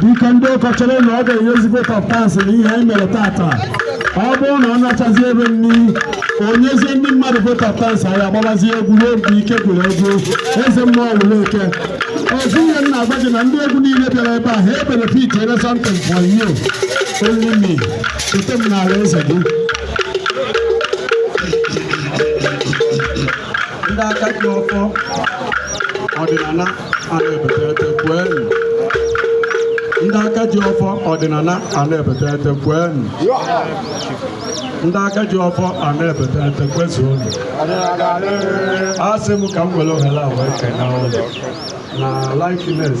Dike ndị cultural na ọ ga-enyezi vote of thanks na ihe anyị mere taata ọ bụrụ na ọ nachazi ebe nri o nyezie ndị mmadụ vote of thanks anyị agbabazi egwu ruo mgbe ike gwụrụ egwu eze mmụọ wụrụ eke ozi ihe m na-agwa gị na ndị egwu niile bịara ebe a ha ebenefit ere something for you only me cheta m n'ala eze gị ndị aka ji ọfọ ọdịnala ndị aka ji ọfọ ọdịnala ana-ebete ete kwenu ndị aka ji ọfọ ana-ebete ete kwezuonu asị m ka m were ohere a wee kene ụlọ na likeness